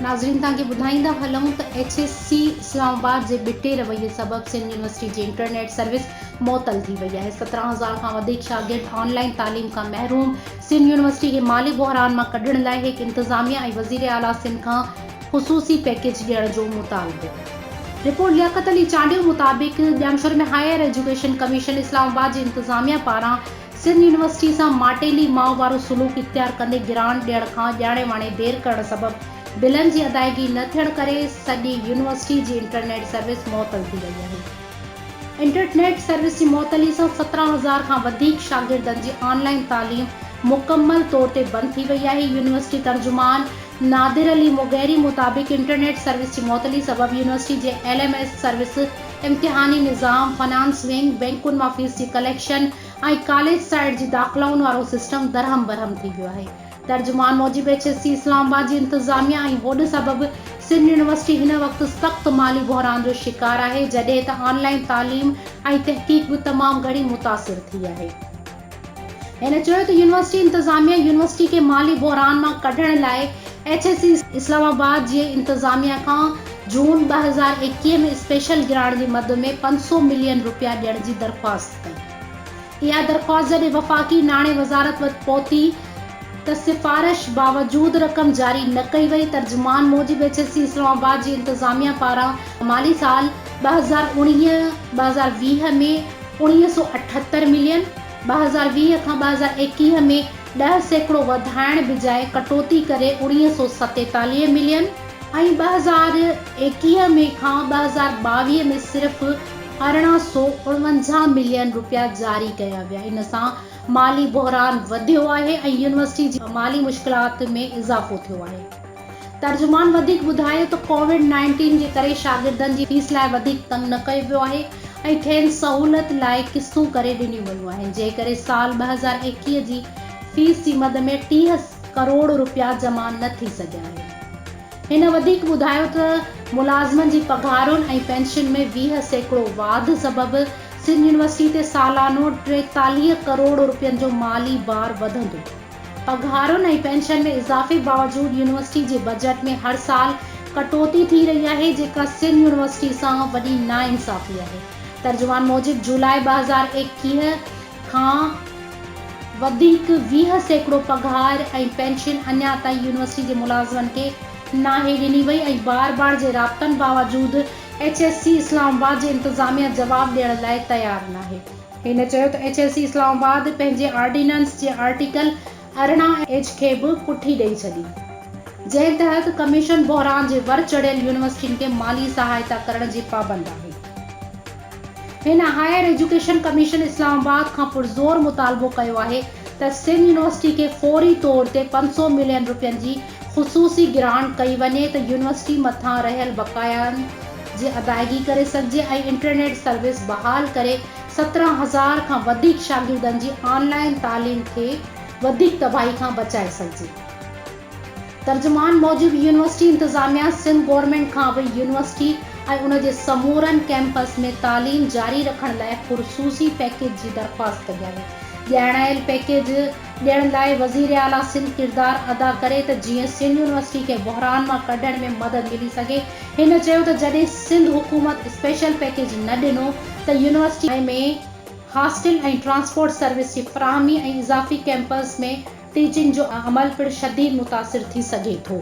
ناظرين توهان کي ٻڌائيندا هلون ته H S C Islamabad جي ٻٽي رويي سبب سنڌ يونيورسٽي جي انٽرنيٽ سروس معطل ٿي وئي آهي سترهن هزار کان وڌيڪ شاگرد آن لائين تعليم کان محروم سنڌ يونيورسٽي کي مالي بحران مان ڪڍڻ لاء هڪ انتظاميه ۽ وزير اعليٰ سنڌ کان خصوصي پيڪيج ڏيڻ جو مطالبو. رپورٽ لياقت علي چانڊيو مطابق Jamshoro ۾ higher education commission Islamabad جي انتظاميا پاران سنڌ يونيورسٽي سان ماٽيلي ماء وارو سلوڪ اختيار ڪندي گرانٽ ڏيڻ کان ڄاڻي واڻي دير ڪرڻ سبب بلن جي ادائيگي نه ٿيڻ ڪري سڄي يونيورسٽي جي انٽرنيٽ سروس معطل ٿي وئي آهي انٽرٽنيٽ سروس جي معطلي سان سترهن هزار کان وڌيڪ شاگردن جي آن لائين تعليم مڪمل طور تي بند ٿي وئي آهي يونيورسٽي ترجمان نادر علي مغيري مطابق انٽرنيٽ سروس جي معطلي سبب يونيورسٽي جي ايل ايم ايس سروس، امتحاني نظام، فنانس ونگ، بئنڪن مان فيس جي ڪليڪشن ۽ ڪاليج سائيڊ جي داخلائن وارو سسٽم درهم برهم ٿي ويو آهي. ترجمان موجب H S C Islamabad جي انتظاميه ۽ هوڏ سبب سنڌ يونيورسٽي هن وقت سخت مالي بحران جو شڪار آهي جڏهن ته آن لائين تعليم ۽ تحقيق به تمام گهڻي متاثر ٿي آهي. هن چيو ته يونيورسٽي انتظاميه يونيورسٽي کي مالي بحران مان ڪڍڻ لاء ايڇ اي سي اسلام آباد جي انتظاميه کان جون ٻه هزار ايڪيهه ۾ اسپيشل گرانٽ جي مد ۾ پنج سؤ ملين رپيا ڏيڻ جي درخواست ڪئي. اها درخواست جڏهن وفاقي ناڻي وزارت وٽ پهتي ته سفارش باوجود رقم جاري نه ڪئي وئي. ترجمان موجب ايڇ اي سي اسلام آباد جي انتظاميه پاران مالي سال ٻه هزار اڻويهه ٻه هزار ويهه ۾ اڻيهه سؤ اٺهتر ملين، ٻه هزار ويهه کان ٻه هزار ايڪيهه ۾ ڏهه سيڪڙو وڌائڻ بجاء ڪٽوتي ڪري اڻيهه سؤ ستيتاليهه ملين ۽ ٻه هزار ايڪيهه ۾ کان ٻه هزار ٻاويهه ۾ صرف ارڙهن سؤ اڻونجاهه ملين رپيا جاري ڪيا ويا ان سان مالي بحران وڌيو آهي ۽ يونيورسٽي جي مالي مشڪلات ۾ اضافو ٿيو آهي. ترجمان وڌيڪ ٻڌايو ته ڪووڊ نائنٽين جي ڪري شاگردن جي فيس لاء وڌيڪ تنگ نه ڪيو ويو آهي ۽ کين سهولت لاء قسطون ڪري ڏنيون ويون آهن جنهن ڪري سال ٻه هزار ايڪيهه جي فيس جي مد ۾ ٽيهه ڪروڙ رپيا جمع نه ٿي سگهيا آهن. هن وڌيڪ ٻڌايو ته ملازمن جي پگهارن ۽ پينشن ۾ ويهه سيڪڙو واڌ سبب سنڌ يونيورسٽي تي سالانو ٽيتاليهه ڪروڙ رپين جو مالي بار وڌندو. پگهارن ۽ پينشن ۾ اضافي باوجود يونيورسٽي جي بجيٽ ۾ هر سال ڪٽوتي ٿي رهي آهي جيڪا سنڌ يونيورسٽي سان وڏي ناانصافي آهي ترجمان موجب جولاء ٻه هزار ايڪيهه کان وڌيڪ ويهه سيڪڙو پگهار ۽ پينشن اڃا تائين يونيورسٽي جي ملازمن کي ناهي ڏني وئي ۽ بار بار جي رابطن باوجود H S C Islamabad جي انتظاميه جواب ڏيڻ لاء تيار ناهي. هن چيو ته H S C Islamabad پنهنجي آرڊيننس جي آرٽيڪل ارڙهن ايڇ کي به پٺي ڏئي ڇڏي، جنهن تحت ڪميشن بحران جي ور چڙهيل يونيورسٽين کي مالي سهائتا ڪرڻ جي پابند آهي. هن higher education commission Islamabad کان پرزور مطالبو ڪيو آهي ته سنڌ يونيورسٽي کي فوري طور تي پنج سؤ ملين رپين جي خصوصي گرانٽ ڪئي وڃي ته يونيورسٽي مٿان رهيل بقايائن جي ادائيگي ڪري سگهجي ۽ انٽرنيٽ سروس بحال ڪري سترهن هزار کان وڌيڪ شاگردن جي آن لائين تعليم کي وڌيڪ تباهي کان بچائي سگهجي. ترجمان موجب يونيورسٽي انتظاميا سنڌ گورنمينٽ کان به يونيورسٽي ۽ ان جي سمورن ڪيمپس ۾ تعليم جاري رکڻ لاء خرصوصي پيڪيج جي درخواست ڪئي آهي. ڄاڻايل پيڪيج. ڏيڻ لاء وزير اعليٰ سنڌ ڪردار ادا ڪري ته جيئن سنڌ يونيورسٽي کي بحران مان ڪڍڻ ۾ مدد ملي سگهي، هن چيو ته جڏهن سنڌ حڪومت اسپيشل پيڪيج نه ڏنو ته يونيورسٽي ۾ هاسٽل ۽ ٽرانسپورٽ سروس جي فراهمي ۽ اضافي ڪيمپس ۾ ٽيچنگ جو عمل پڻ شديد متاثر ٿي سگهي ٿو.